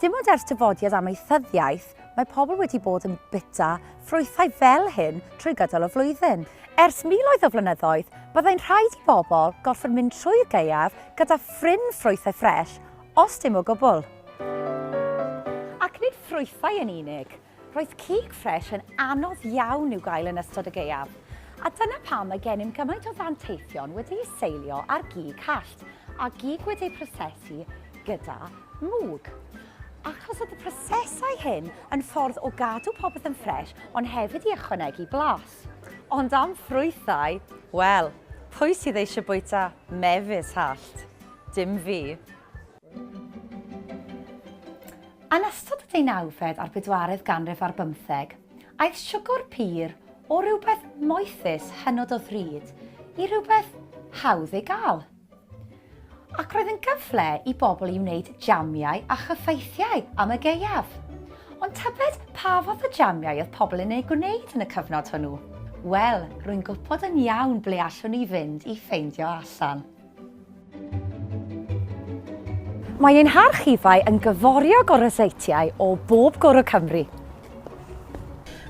Dim ond ers dyfodiad amaethyddiaeth, mae pobl wedi bod yn bwyta ffrwythau fel hyn trwy gydol y flwyddyn. Ers miloedd o flynyddoedd, byddai'n rhaid i bobl gorfod mynd trwy'r gaeaf gyda phryn ffrwythau ffres, os dim o gwbl. Ac nid ffrwythau yn unig, Roedd cig ffres yn anodd iawn i'w gael yn ystod y gaeaf, a dyna pam mae gennym gymaint o ddanteithion wedi'u seilio ar gig hallt a gig wedi'u prosesu gyda mwg. Achos oedd y prosesau hyn yn ffordd o gadw popeth yn ffres ond hefyd i ychwanegu blas. Ond am ffrwythau, wel, pwy sydd eisiau bwyta mefus hallt? Dim fi. Yn ystod y deunawfed a'r bedwaredd ganrif ar bymtheg, aeth siwgr pur o rywbeth moethus hynod o ddrud i rywbeth hawdd ei gael. Ac roedd yn gyfle i bobl i wneud jamiau a chyffaithiau am y gaeaf. Ond tybed pa fath o jamiau oedd pobl yn eu gwneud yn y cyfnod hwnnw? Wel, rwy'n gwybod yn iawn ble allwn ni fynd i ffeindio allan. Mae ein harchifau yn gyforiog o ryseitiau o bob cwr o Cymru.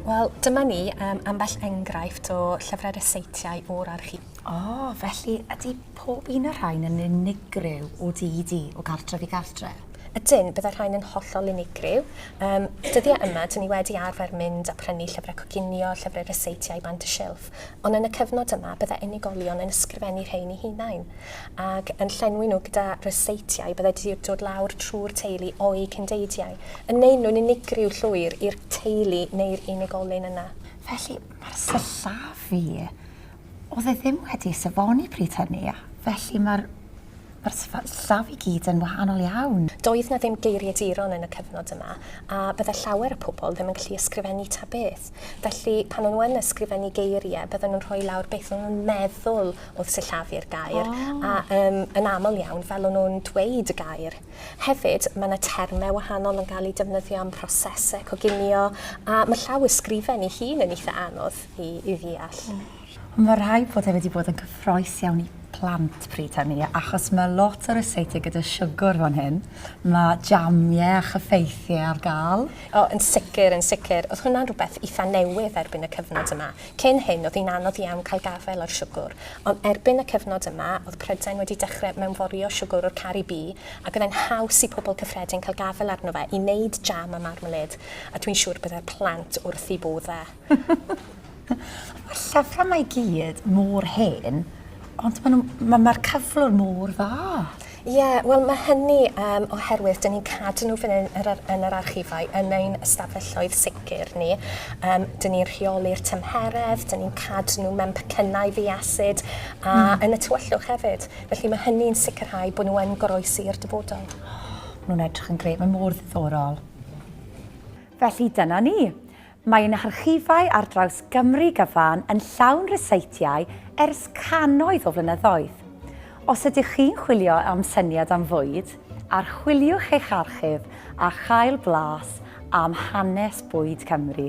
Wel, dyma ni, um, ambell enghraifft o llyfrau ryseitiau o'r archif. O, oh, felly ydy pob un o'r rhain yn unigryw o di i di, o gartref i gartref? Ydyn, byddai rhain yn hollol unigryw. Um, dyddiau yma, dyn ni wedi arfer mynd a prynu llyfrau coginio, llyfrau ryseitiau bant y silff. Ond yn y cyfnod yma, byddai unigolion yn ysgrifennu rhein i hunain, ac yn llenwi nhw gyda ryseitiau byddai wedi dod lawr trwy'r teulu o'u cyndeidiau, yn neud nhw'n unigryw llwyr i'r teulu neu'r unigolyn yna. Felly, mae'r sillafu, oedd e ddim wedi safoni pryd hynny, a felly mae'r Mae'r sefyllfa i gyd yn wahanol iawn. Doedd 'na ddim geiriaduron yn y cyfnod yma, a bydde llawer o pobl ddim yn gallu ysgrifennu ta beth. Felly, pan o'n nhw yn ysgrifennu geirie, bydden nhw'n rhoi lawr beth o'n nhw'n meddwl oedd sillafu'r gair, a yym yn aml iawn, fel o'n nhw'n dweud y gair. Hefyd, mae 'na terme wahanol yn gael eu defnyddio am prosese coginio, a ma' llawysgrifen ei hun yn eitha' anodd i i ddeall. Ond mae rhaid bod e wedi bod yn cyffroes iawn i plant pryd hynny, achos mae lot o ryseitiau gyda siwgr fan hyn, mae jamiau a chyffeithiau ar gael. O, yn sicr, yn sicr. Oedd hwnna'n rhywbeth eitha' newydd erbyn y cyfnod yma. Cyn hyn, oedd hi'n anodd iawn cael gafael ar siwgr, ond erbyn y cyfnod yma, oedd Prydain wedi dechrau mewnforio siwgr o'r Caribî, ac oedd e'n haws i pobl cyffredin cael gafael arno fe i wneud jam a marmalêd, a dwi'n siŵr y byddai'r plant wrth eu bodd e. Mae'r llyfrau mae i gyd mor hen, ond mae'r ma, ma cyflwr mor dda. Ie, yeah, wel mae hynny um, oherwydd dyn ni'n cadw nhw fan hyn yr, yn yr archifau, yn ein ystafelloedd sicr ni. Um, dyn ni'n rheoli'r tymheredd, dyn ni'n cadw nhw mewn pecynnau ddiasid a mm. yn y tywyllwch hefyd. Felly mae hynny'n sicrhau bod nhw yn goroesi i'r dyfodol. Oh, nhw'n edrych yn gred, mae mor ddiddorol. Felly dyna ni. Mae ein harchifau ar draws Gymru gyfan yn llawn ryseitiau ers cannoedd o flynyddoedd. Os ydych chi'n chwilio am syniad am fwyd, archwiliwch eich archif a chael blas am hanes bwyd Cymru.